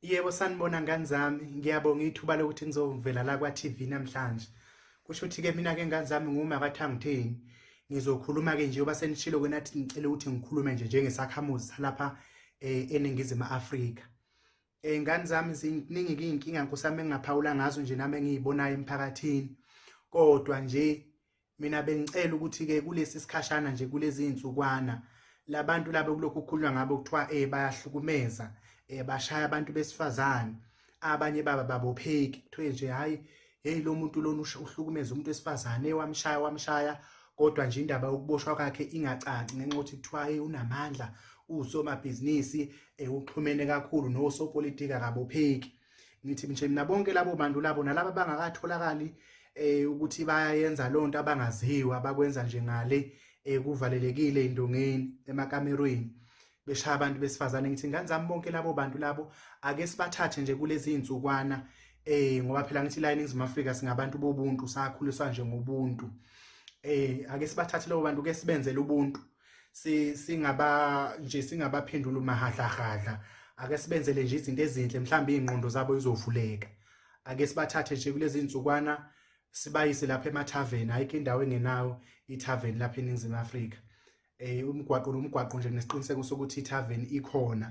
Yebo sanibona ngani zami ngiyabonga ithuba lokuthi ngizovela la kwa TV namhlanje kusho ukuthi ke mina ke ngani zami nguma kathangitheni ngizokhuluma ke nje oba senishilo ke nathi ngicela ukuthi ngikhulume nje njengesakhamuzi salapha eh, eningizimu Afrika eh ngani zami ziningi inkinga nkusami engaphawula ngazo nje nami engiyibonayo emphakathini kodwa nje mina bengicela ukuthi ke kulesi sikhashana nje kulezi insukwana labantu laba kulokhu kukhulunywa ngabo kuthiwa eh bayahlukumeza eh bashaya abantu besifazane abanye baba babopheki kuthiwe nje hayi hey lo muntu lona uhlukumeza umuntu wesifazane wamshaya wamshaya kodwa nje indaba yokuboshwa kwakhe ingacaci ngenxa yokuthi kuthiwa hey unamandla usomabhizinisi eh, uxhumene kakhulu nosopolitiki akabopheki ngithi nje mina bonke labo bantu labo nalabo abangakatholakali eh ukuthi bayenza lonto abangaziwa abakwenza nje ngale ekuvalelekile eh, indongeni emakamerweni beshaya abantu besifazane ngithi ngane zami bonke labo bantu labo ake sibathathe nje kulezi insukwana eh ngoba phela ngithi la eNingizimu Afrika singabantu bobuntu sakhuliswa nje ngobuntu eh ake sibathathe labo bantu ke sibenzele ubuntu si singaba nje singabaphendula umahadlahadla ake sibenzele nje izinto ezinhle mhlawumbe ingqondo zabo izovuleka ake sibathathe nje kulezi insukwana sibayise lapha emathaveni ayikho indawo engenawo ithaveni lapha eningizimu Afrika eh umgwaqo nomgwaqo nje nesiqiniseko sokuthi ithaveni ikhona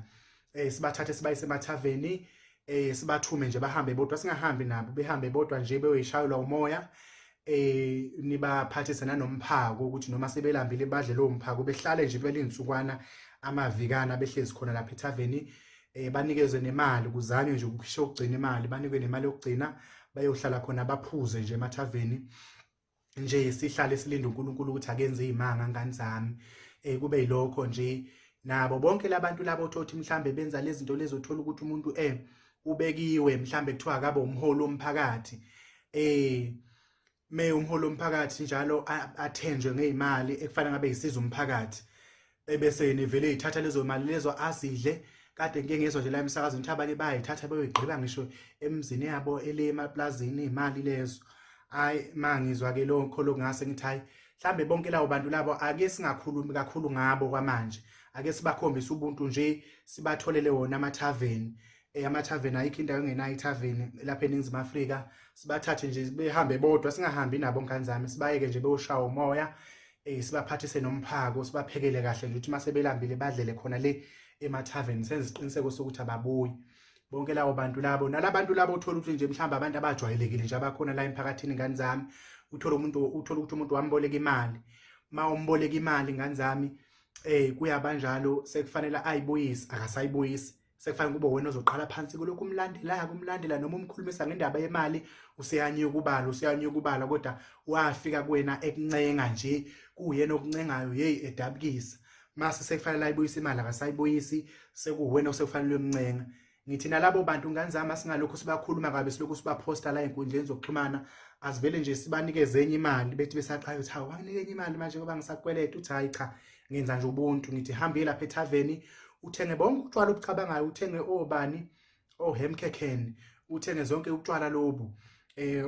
eh sibathathe sibayise emathaveni eh sibathume nje bahambe bodwa singahambi nabo behambe bodwa nje beyoyishayelwa umoya eh nibaphathise nanomphako ukuthi noma sebelambile badle lo mphako behlale nje belinsukwana amavikana behlezi khona lapha ethaveni eh banikezwe nemali kuzanywe nje ukukhisha ukugcina imali banikwe nemali yokugcina bayohlala khona baphuze nje emathaveni nje sihlale silinde uNkulunkulu ukuthi akenze izimanga ngani zami eh kube yilokho nje nabo bonke labantu labo othothi mhlambe benza lezi zinto lezo uthola ukuthi umuntu eh ubekiwe mhlambe kuthiwa akabe umholi womphakathi eh me umholi womphakathi njalo athenjwe ngezimali ekufanele ngabe yisiza umphakathi ebese nivele ithatha lezo mali lezo azidle kade ngike ngezwa nje la emsakazweni ukuthi abanye bayayithatha beyoyigqiba ngisho emzini yabo ele emaplazini imali lezo hayi ma ngizwa ke lokho lokungase ngithi hayi mhlambe bonke labo bantu labo ake singakhulumi kakhulu ngabo kwamanje ake sibakhombise ubuntu nje sibatholele wona amathaveni eh, amathaveni ayikho indawo engenayo ithaveni lapha eningizimu afrika sibathathe nje behambe bodwa singahambi nabo ngane zami sibayeke nje bewushawa umoya eh sibaphathise nomphako sibaphekele kahle nje ukuthi mase belambile badlele khona le emathaveni senze isiqiniseko sokuthi ababuyi bonke labo bantu labo nalabantu labo uthola ukuthi nje mhlawumbe abantu abajwayelekile nje abakhona la emphakathini ngani zami uthola umuntu uthola ukuthi umuntu wamboleka imali ma umboleka imali ngani zami eh kuyabanjalo sekufanele ayibuyise akasayibuyisi sekufanele kube wena ozoqala phansi kulokhu umlandelayo kumlandela noma umkhulumisa ngendaba yemali useyanye ukubala useyanye ukubala kodwa wafika kuwena ekuncenga nje kuyena okuncengayo hey edabukisa mase sekufanele ayibuyise imali akasayibuyisi sekuwena osekufanele umncenga ngithi nalabo bantu ngane zami asingalokhu sibakhuluma kabi silokhu sibaphosta la enkundleni zokuxhumana asivele nje sibanikeze enye imali bethi besaqala ukuthi hawu wanginike enye imali manje ngoba ngisakweleta uthi hayi cha ngenza nje ubuntu ngithi hambile lapha ethaveni uthenge bonke utshwala obucabangayo uthenge obani ohemkhekheni uthenge zonke utshwala lobu eh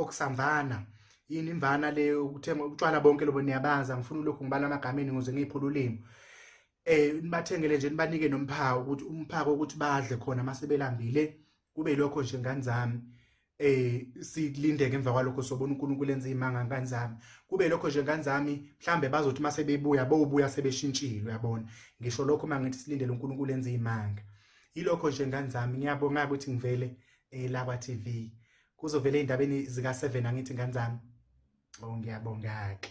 okusamvana yini imvana le ukuthenga utshwala bonke lobo niyabaza ngifuna lokho ngibala amagameni ngoze ngiphula ulimi eh nibathengele nje nibanike nomphako ukuthi umphako ukuthi badle khona masebelambile kube lokho nje ngani zami eh silindeke emva kwalokho sobona uNkulunkulu enza imanga ngani zami kube lokho nje ngani zami mhlambe bazothi mase bebuya bobuya sebeshintshile yabona ngisho lokho mangithi silindele uNkulunkulu enza imanga ilokho nje ngani zami ngiyabonga ukuthi ngivele eh la kwa TV kuzovele indabeni zika 7 angithi ngani zami oh ngiyabonga ke